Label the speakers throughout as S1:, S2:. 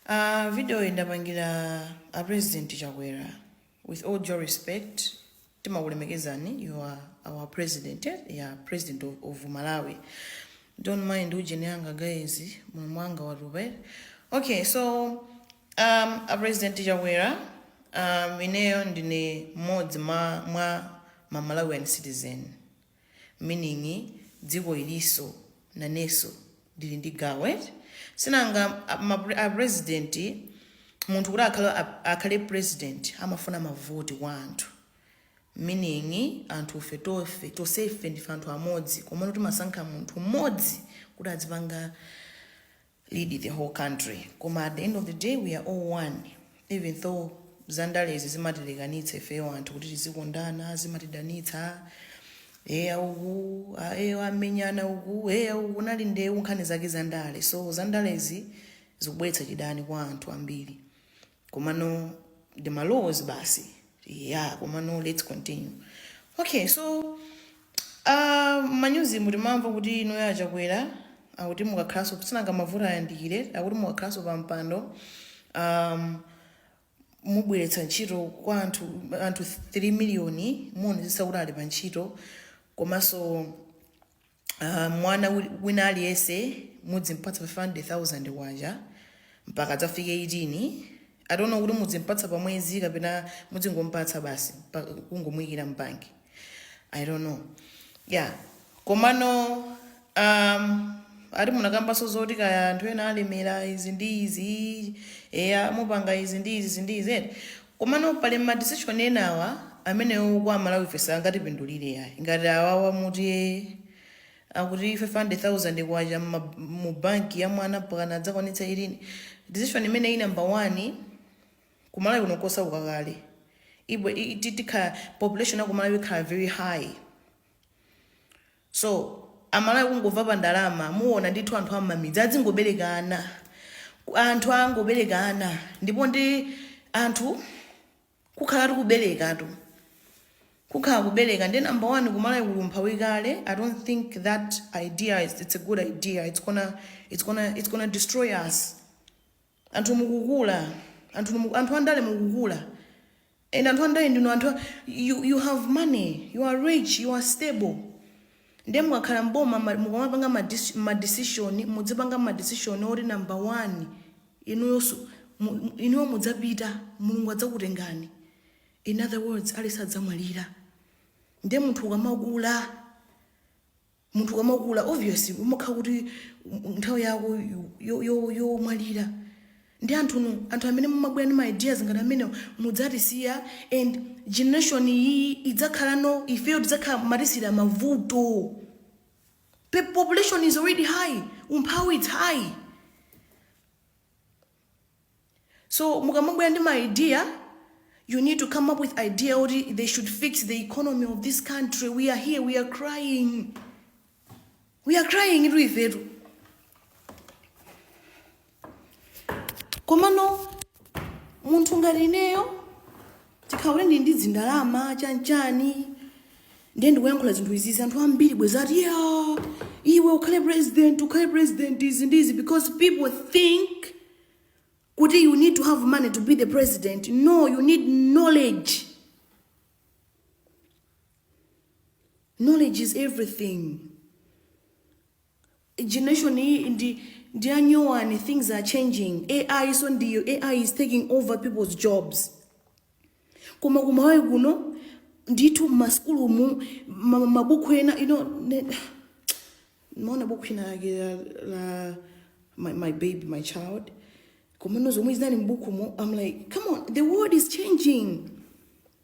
S1: Aaa video ndapangira a president Chakwera with all due respect timakulemekezani you are our president eh? yeah, president of, of Malawi don't mind ujeni anga guys mulomo wanga watupa eh? okay so um, a president Chakwera um, ineyo ndine mmodzi mwa, mwa ma Malawian citizen meaning dziko iliso naneso ndili ndi gawo eti sinanga a president munthu kuti akhale, akhale president amafuna mavoti kwa anthu meaning anthufe tofe tosefe ndife anthu amodzi komano timasankha munthu mmodzi kuti adzipanga lead the whole country koma at the end of the day we are all one even though za ndalezi zimatilekanitsa ifeyo anthu kuti tizikondana zimatidanitsa eya uku a- eyo amenyana uku eya uku nali ndewu nkhani zake za ndale so za ndalezi zikubweretsa chidani kwa anthu ambiri komano ndi malowozi basi yeah komano let's continue okay so uh, manyuzi mu timamva kuti inuyo a chakwera akuti mukakhalanso sinanga mavoti ayandikire akuti mukakhalanso pa mpando um, mubweretsa ntchito kwa anthu anthu 3 miliyoni muonetsetsa kuti ali pa ntchito komanso uh, mwana wi- wina aliyense mudzimpatsa 500000 kwacha mpaka adzafike 18 i don't know kuti mudzimpatsa pa mwezi kapena mudzingompatsa basi pa- kungomuyikira mbanki i don't know yeah komano um, ati munakambanso zoti kaya anthu ena alemera izi ndi izi eya mupanga izi ndi izi izi ndi izi eti Komano pali ma decision ena awa amenewo kwa amalawife sangatipindulire yayi ngati awawa muti ee akuti 500,000 kwacha mma mu bank ya mwana mpakana adzakwanitse ilini decision imeneyo number one ku malawi kuno nkosauka kale ibwe i- i- ti- tikhala population ya ku malawi ikhala very high So amalawi kungova pa ndalama muona ndithu anthu ammamidzi adzingobelekana Ku- anthu angobelekana ndipo ndi anthu kukhala tikubelekatu kukhala kubeleka ndi number one kumalawi kuli umphawi kale i don't think that idea is, it's a good idea it's gonna, it's gonna, it's gonna destroy us Anthu mukukula, anthu mu- anthu andale mukukula. And anthu andale ndinu anthu a- you, you have money, you are rich, you are stable. Ndiye mukakhala mboma ma- mukamapanga ma dis- ma decision, mudzipanga ma decision oti number 1 inuyo su- mu- mu- inuyo mudzapita, Mulungu adzakutengani. In other words, aliyense adzamwalira. Ndiye munthu ukamakula munthu ukamakula obviously umakhala kuti um, nthawi yako yo- yo- yomwalira ndiye anthunu anthu amene mumabwera ndi maideas ngati amenewa mudzatisiya and generation iyi idzakhala ilipo ifeyo tidzakhala mwatisiyira mavuto Pe- population is already high umphawi it's high So mukamabwera ndi ma idea you need to come up with idea kuti they should fix the economy of this country we are here we are crying we are crying itu ifetu komano munthu ngati ineyo Chikhala kuti ndili ndi dzindalama chanchani ndiye ndikuyankhula zinthu izizi anthu ambiri bwenzi akuti ya iwe ukhale president ukhale president izi ndi izi because people think kuti you need to have money to be the president no you need knowledge knowledge is everything generation iyi ndi ndi ya nyowani things are changing ai iso ndiyo ai is taking over people's jobs koma kumalawi kuno ndithu mmasukulumu ma- ma- mabuku ena you know, ndimaona buku ina lake la, la my, my baby my child komano zomwe zinali mbukumo i'm like come on the world is changing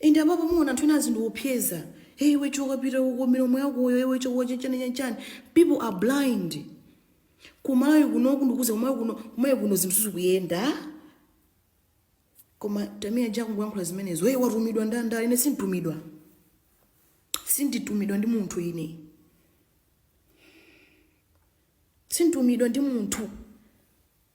S1: Inde apapa muwona anthu ena azindiopseza. Hey iwe choka pita uko milomo yakoyo iwe choka chani chani chani. People are blind. Kumalawi kuno ndikukuuza kumalawi kuno kumalawi kuno zinthu zikuyenda. Koma Tamia Ja kuyankhula zimenezo. Hey watumidwa ndi andale ine sintumidwa. Sinditumidwa ndi munthu ine. Sintumidwa ndi munthu.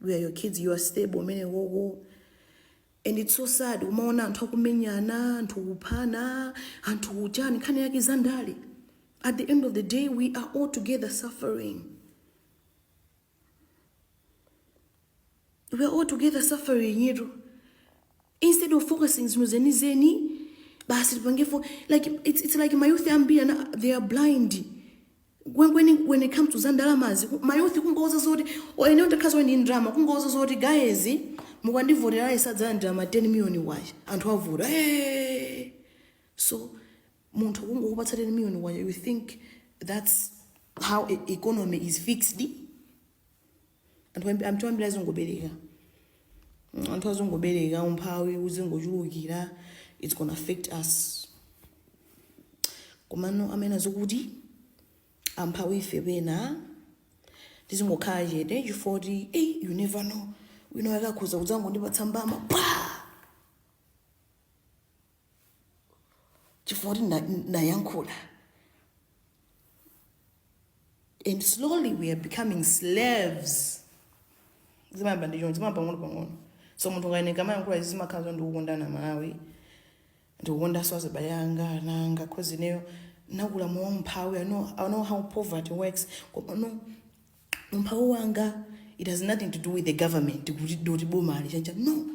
S1: we are your kids you are stable umene wowo and it's so sad kumaona anthu akumenyana anthu kuphana anthu kuchani nkhani yake za ndale at the end of the day we are all together suffering we are all together suffering yero instead of focusing zinthu zenizeni basi tipange fo like it's, it's like mayouth ambiri awa they are blind kwenikweni when it comes to za ndalamazi ku- mayouth kungowauza zoti oyenewo takhazi oye ndi ndalama kungowauza zoti guys mukandivotera mudzalandira ma 10 million kwacha anthu avota hey! so munthu kungokupatsa 10 million kwacha you think that's how e- economy is fixed anthu ambi- anthu ambiri azingobereka Mm, anthu azingobereka umphawi uzingochulukira its gonna affect us komano amanena zakuti amphawi ife pena tizingokhala chete chifukwa choti ei you never know wina akhoza kudzangondipatsa mbama pa chifukwa choti na- nayankhula and slowly we are becoming slaves zimayamba ndi choncho zimayamba pang'ono pang'ono so munthu ngati ine ndikamayankhula izi zimakhala zo ndikukonda malawi ndikukondanso azibale anga ana anga cause ineyo nakula mu umphawi I know, i know how poverty works komano umphawi wanga it has nothing to do with the government kuti ndoti boma ali chani chani no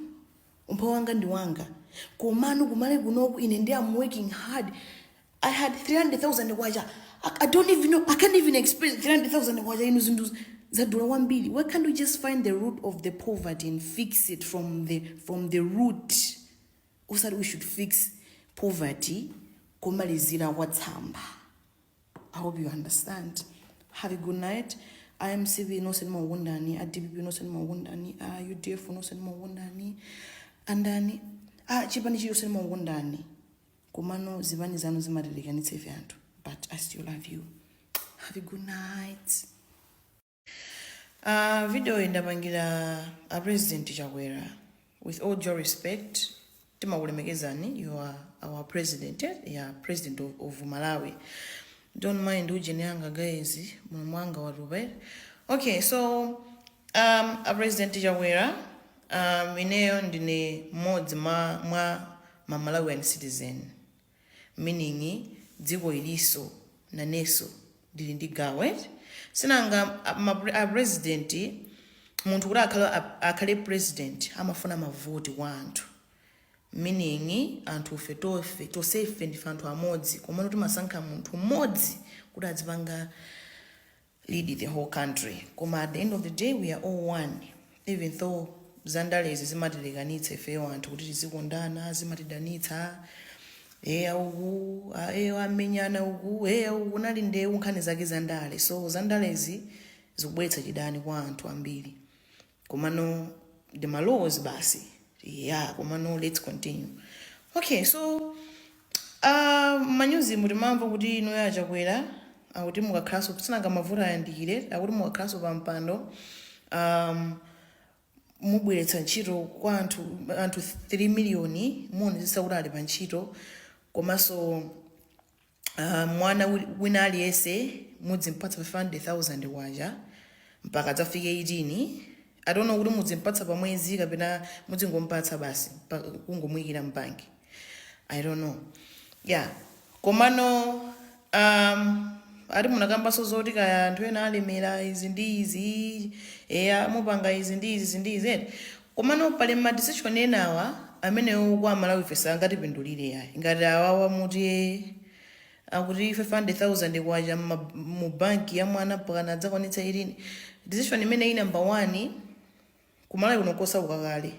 S1: umphawi wanga ndi wanga komano kumalawi kunoku ine ndi am working hard i had 300000 kwacha I, i don't even know i can't even explain 300000 kwacha inu zinthu zadula kwambiri why can't we just find the root of the poverty and fix it from the from the root osati we should fix poverty komalizira kwa tsamba I hope you understand. Have a good night. I am CV no send more wundani. A DPP no send more wundani. A UDF no send more wundani. Andani. A chipani chiyo send more wundani. Kumano zivani zanu zimatirikani tsefe anthu. But I still love you. Have a good night. Aaa video iyi ndapangira a president Chakwera with all due respect timakulemekezani you are our president eh? yeah, president of, of Malawi don't mind ujeni anga guys mulomo wanga watupa eh? okay so um, a president Chakwera um, ineyo ndine mmodzi mwa, mwa ma Malawian citizen meaning dziko iliso naneso ndili ndi gawo eti sinanga a president munthu kuti akhale, akhale president amafuna mavoti kwa anthu meaning anthufe tofe tosefe ndife anthu amodzi komano timasankha munthu mmodzi kuti adzipanga lead the whole country koma at the end of the day we are all one even though za ndalezi zimatilekanitsa ifeyo anthu kuti tizikondana zimatidanitsa eya uku a- eyo amenyana uku eya uku nali ndewu nkhani zake za ndale so za ndalezi zikubweretsa chidani kwa anthu ambiri komano ndi ma laws basi yeah komano let's continue okay so uh, manyuzi mu timamva kuti inuyo a Chakwera akuti mukakhalanso sinanga mavoti ayandikira akuti mukakhalanso pa mpando um, mubweretsa ntchito kwa anthu anthu 3 miliyoni muonetsetsa kuti ali pa ntchito komanso uh, mwana wi- wina aliyense mudzimpatsa 500000 kwacha mpaka adzafike 18 i don't know kuti mudzimpatsa pa mwezi kapena mudzingompatsa basi pa- kungomuyikira mbanki i don't know yeah komano um, ati munakambanso zoti kaya anthu ena alemera izi ndi izi eya mupanga izi ndi izi izi ndi izi eti Komano pali ma decision enawa amene kwa amalawife sangatipindulire ayi ngati awawa mukuti ee akuti 500,000 kwacha mu bank ya mwana mpakana adzakwanitse 18 decision imeneyi number one ku malawi kuno nkosauka kale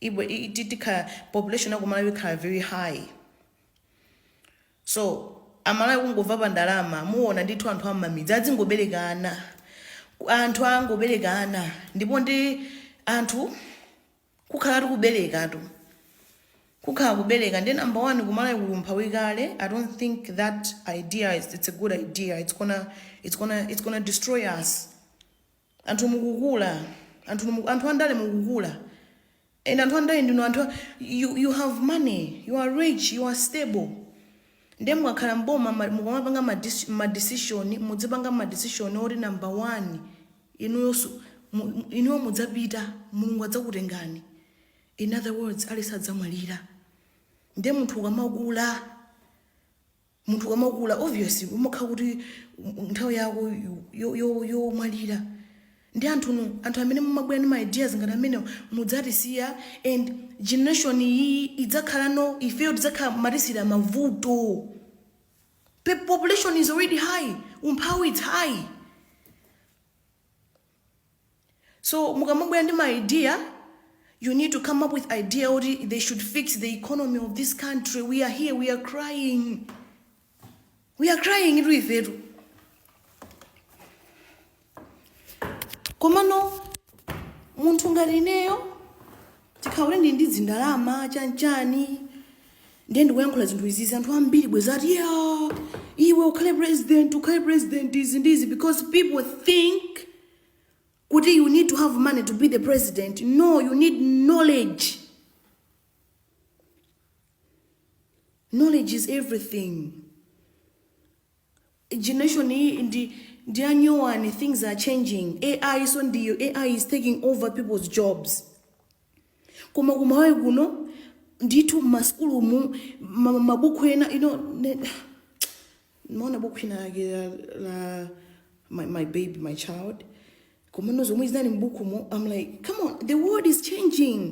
S1: ibwe- i- ti- tikhala population ya ku malawi ikhala very high So amalawi kungova pa ndalama muona ndithu anthu am'mamidzi adzingobeleka ana Ku- anthu angobeleka ana ndipo ndi anthu kukhala tu kubelekatu kukhala kubeleka ndi number one kumalawi kuli umphawi kale i don't think that idea is, it's a good idea it's gonna, it's gonna, it's gonna destroy us Anthu mukukula, anthu mu, anthu andale mukukula. And anthu andale ndinu anthu a- you, you have money, you are rich, you are stable. Ndiye mukakhala mboma ma- mukamapanga ma dis- ma decision, mudzipanga ma decision oti number 1 inuyo su- mu- mu- inuyo mudzapita Mulungu adzakutengani. In other words, aliyense adzamwalira. Ndiye munthu ukamakula munthu ukamakula obvious umakhala kuti um, nthawi yako yo- yo- yomwalira ndi anthunu anthu amene mumabwera ndi ma ideas ngati amenewo mudzatisiya and generation iyi idzakhala no ifeyo tidzakhala mwatisiyira mavuto Pe- population is already high umphawi it's high so mukamabwera ndi ma idea you need to come up with idea kuti they should fix the economy of this country we are here we are crying we are crying itu ifetu komano munthu ngati ineyo Tikhale ndi ndi zindalama chanchani ndiye ndikuyankhula zinthu izizi anthu ambiri bwezi ati ya iwe ukhale president ukhale president izi ndi izi because people think kuti you need to have money to be the president no you need knowledge knowledge is everything generation iyi ndi ndi yanyowani things are changing ai so ndiyo ai is taking over people's jobs koma kumalawi kuno ndithu mmasukulumu ma- mabuku ena you know, ndimaona buku lina lake la, la my, my baby my child komano zomwe zinali mbukumo i'm like come on the world is changing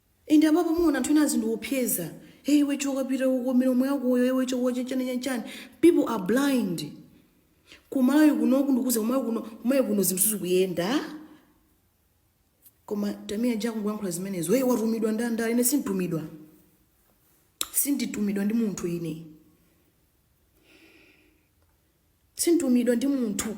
S1: And apapa muona anthu ena azindiopseza. Hey iwe choka pita uko milomo yakoyo iwe choka chachani chachani. People are blind. Kumalawi kuno ndikukuuza kumalawi kuno kumalawi kuno zinthu sizikuyenda. Koma Tamia Ja kuyankhula zimenezo. Hey watumidwa ndi andale ine sintumidwa. Sinditumidwa ndi munthu ine. Sintumidwa ndi munthu.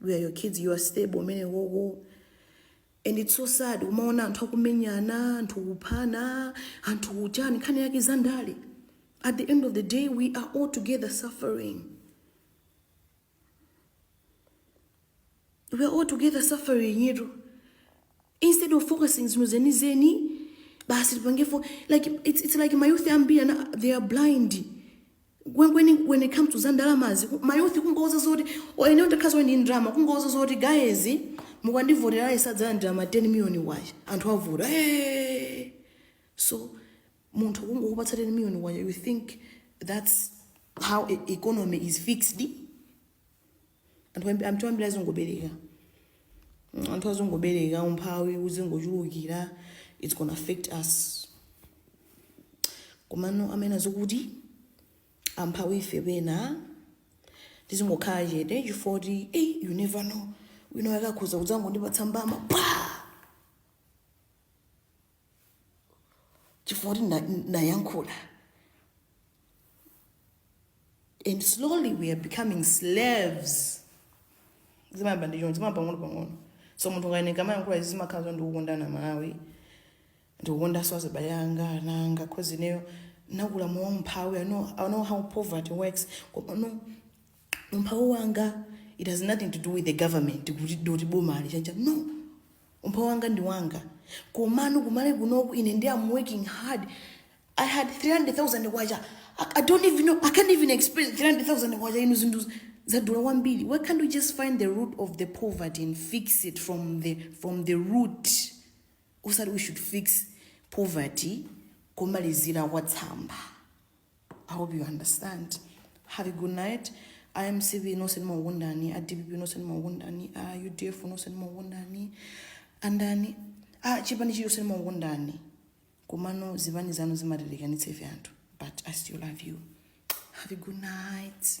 S1: we are your kids you are stable umene wowo and it's so sad kumaona anthu akumenyana anthu kuphana anthu kuchani nkhani yake za ndale at the end of the day we are all together suffering we are all together suffering yero instead of focusing zinthu zenizeni basi tipange fo like it's, it's like mayouth ambiri ana they are blind when, when, when it comes to za ndalamazi ku- mayouth kungouza zoti ineyo ndakhaziwa ndi ndalama kungowauza zoti guys mukandivotera aliyense adzalandira ma 10 million kwacha anthu avota hey! so munthu kungokupatsa 10 million kwacha you think that's how e- economy is fixed anthu ambi- anthu ambiri azingobereka Mm, anthu azingobereka umphawi uzingochulukira its gonna affect us komano amanena zokuti amphawi ife pena tizingokhala chete chifoti hey, you never know wina wake akhoza kudzangondipatsa mbama pa chifukwa kuti na- nayankhula and slowly we are becoming slaves zimayamba ndi choncho zimayamba pang'ono pang'ono so munthu ukayeneka kumayankhula izi zimakhala zo ndikukonda Malawi ndikukondanso azibale anga ana anga cause ineyo nakula mu umphawi I know, I know how poverty works koma no umphawi wanga it has nothing to do with the government kuti doti boma ali chani no umphawi wanga ndi wanga komano ku Malawi kunoku ine ndi am working hard i had 300000 kwacha I, i don't even know i can't even explain 300000 kwacha inu zinthu zadula kwambiri why can't we just find the root of the poverty and fix it from the from the root osati we should fix poverty kumalizira kwa tsamba I hope you understand. Have a good night. I am CV no send more wundani. I DPP no send more wundani. I UDF no send more wundani. And then ah chipani chiyo send more wundani. Kumano zivani zanu zimatirikani tsefe anthu. But I still love you. Have a good night.